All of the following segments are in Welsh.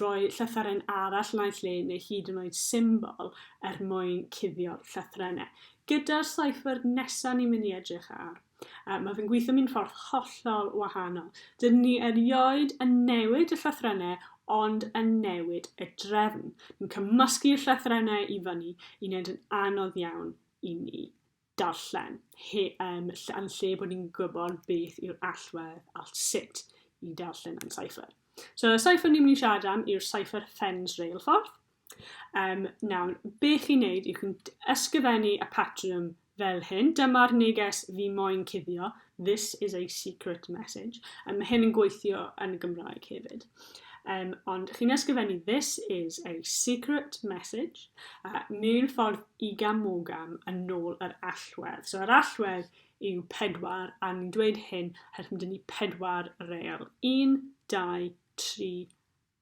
rhoi llythyren arall naill le neu hyd yn oed symbol er mwyn cuddio'r llythrennau. Gyda'r cypher nesaf ni'n mynd i edrych ar, uh, mae fe'n gweithio mewn ffordd hollol wahanol. Dyn ni erioed yn newid y llythrennau ond yn newid y drefn. Ni'n cymysgu'r llythrennau i fyny i wneud yn anodd iawn i ni darllen, he, um, yn lle bod ni'n gwybod beth yw'r allwedd a sut i darllen yn cypher. So y cypher ni'n mynd i siarad am yw'r cypher Fens Reilffordd. Um, nawr, be chi'n neud yw chi'n ysgrifennu y patrwm fel hyn. Dyma'r neges fi moyn cuddio. This is a secret message. Um, mae hyn yn gweithio yn y Gymraeg hefyd. Um, ond chi'n ysgrifennu this is a secret message uh, mewn ffordd i gam o gam yn ôl yr allwedd. So yr allwedd yw pedwar a ni'n dweud hyn herwydd dyn ni pedwar real. Un, dau, tri,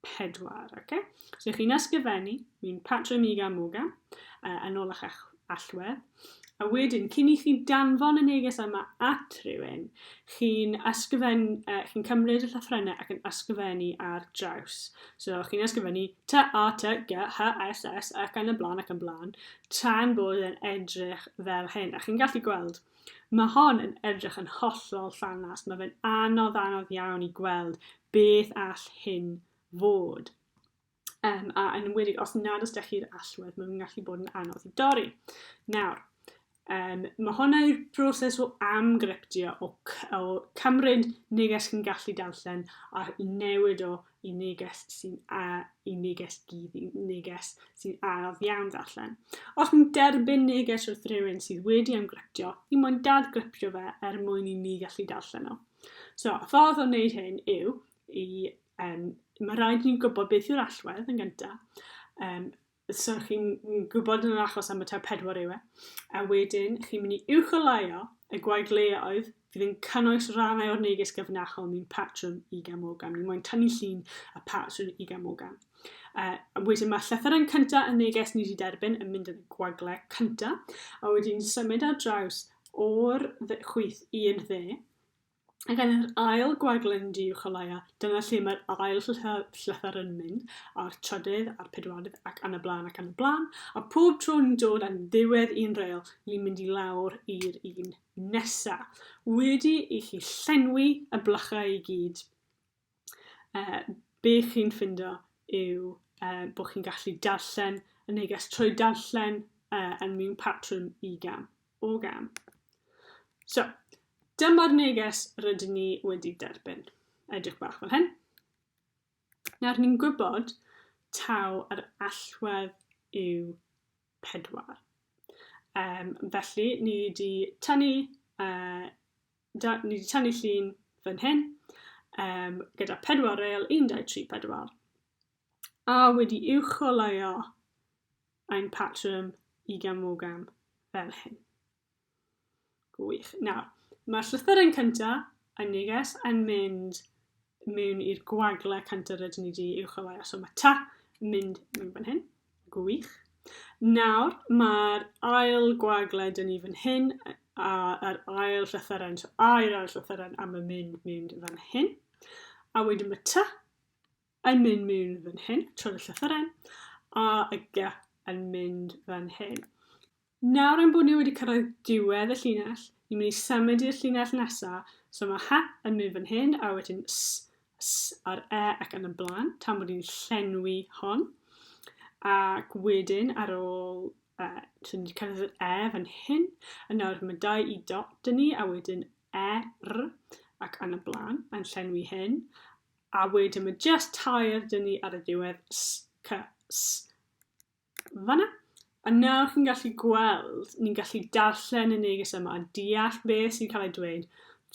pedwar, oce? So chi'n ysgrifennu, mi'n patro miga moga, uh, yn ôl eich allwedd, a wedyn, cyn i chi danfon y neges yma at rhywun, chi'n ysgrifennu, uh, chi'n cymryd y llythrennau ac yn ysgrifennu ar draws. So chi'n ysgrifennu T, A, T, G, H, S, S, ac yn y blaen ac yn blaen, tan bod yn edrych fel hyn. A chi'n gallu gweld Mae hon yn edrych yn hollol ffenast, mae fe'n anodd anodd iawn i gweld beth all hyn fod. Um, a yn enwedig os nad os da chi'r allwedd, mae'n gallu bod yn anodd i dorri. Nawr, Um, mae hwnna yw'r broses o amgryptio, o, o cymryd neges chi'n gallu darllen a newid o y neges sy'n a, y neges gyd, y neges sy'n araf iawn ddarllen. Os ni'n derbyn neges wrth rhywun sydd wedi ymgryptio, ni moyn dad gryptio fe er mwyn i ni gallu darllen o. So, y ffordd o wneud hyn yw i, um, mae rhaid ni'n gwybod beth yw'r allwedd yn gyntaf, um, so chi'n gwybod yn yr achos am y tair pedwar yw e, a wedyn chi'n mynd i uwcholeuo y gwaedleoedd fydd yn cynnwys rannau o'r neges gyfrinachol ni'n patrwm i gamogan. Ni moyn tynnu llun a patrwm i gamogan. Uh, a wedyn mae llythyren cyntaf y neges ni wedi derbyn yn mynd yn y gwagle cyntaf, a wedyn symud ar draws o'r chwyth i'r dde, Ac yn yr ail gwaglen du uwch o laia, dyna lle mae'r ail llythyr yn mynd, a'r trydydd, a'r pedwardydd, ac yn y blaen, ac yn y blaen, a pob tro ni'n dod yn ddiwedd un reil, ni'n mynd i lawr i'r un nesa. Wedi i chi llenwi y blychau i gyd, Yy, be chi'n ffindo yw yy bod chi'n gallu darllen y neges trwy darllen yy yn mewn patrwm i gam o gam. So, dyma'r neges rydyn ni wedi derbyn. Edrych bach fel hyn. Nawr ni'n gwybod taw yr allwedd yw pedwar. Um, felly, ni wedi tynnu uh, Da, ni wedi tynnu llun fan hyn, um, gyda pedwar reil, 1, 2, 3, 4. A wedi uwcholeuo ein patrwm i gamogam fel hyn. Gwych. Nawr, mae'r llythyren cyntaf, yn neges, yn mynd mewn i'r gwagle cynta rydyn ni di uwch awau, so mae ta mynd mewn fan hyn, gwych. Nawr, mae'r ail gwagle dyn ni fan hyn, a'r ail llythyren, so a'r ail llythyren am y mynd mewn fan hyn. A wedyn mae ta yn mynd mewn fan hyn, trwy'r llythyren, a y ga yn mynd fan hyn. Nawr ein bod ni wedi cyrraedd diwedd y llinell, ni'n mynd i symud i'r llinell nesa, so mae ha yn mynd fan hyn, a wedyn s, s a'r e ac yn y blaen, tan bod ni'n llenwi hon. Ac wedyn, ar ôl uh, so ni wedi cyrraedd yr e fan hyn, a nawr mae dau i dot dyn ni, a wedyn e, r, ac yn y blaen, yn llenwi hyn. A wedyn mae just tair dyn ni ar y diwedd, s, c, s, fan 'na. A nawr chi'n gallu gweld, ni'n gallu darllen y neges yma a deall be sy'n cael ei dweud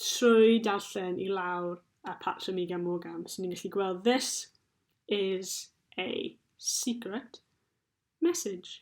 trwy darllen i lawr a patrwm i gan Morgan. So ni'n gallu gweld this is a secret message.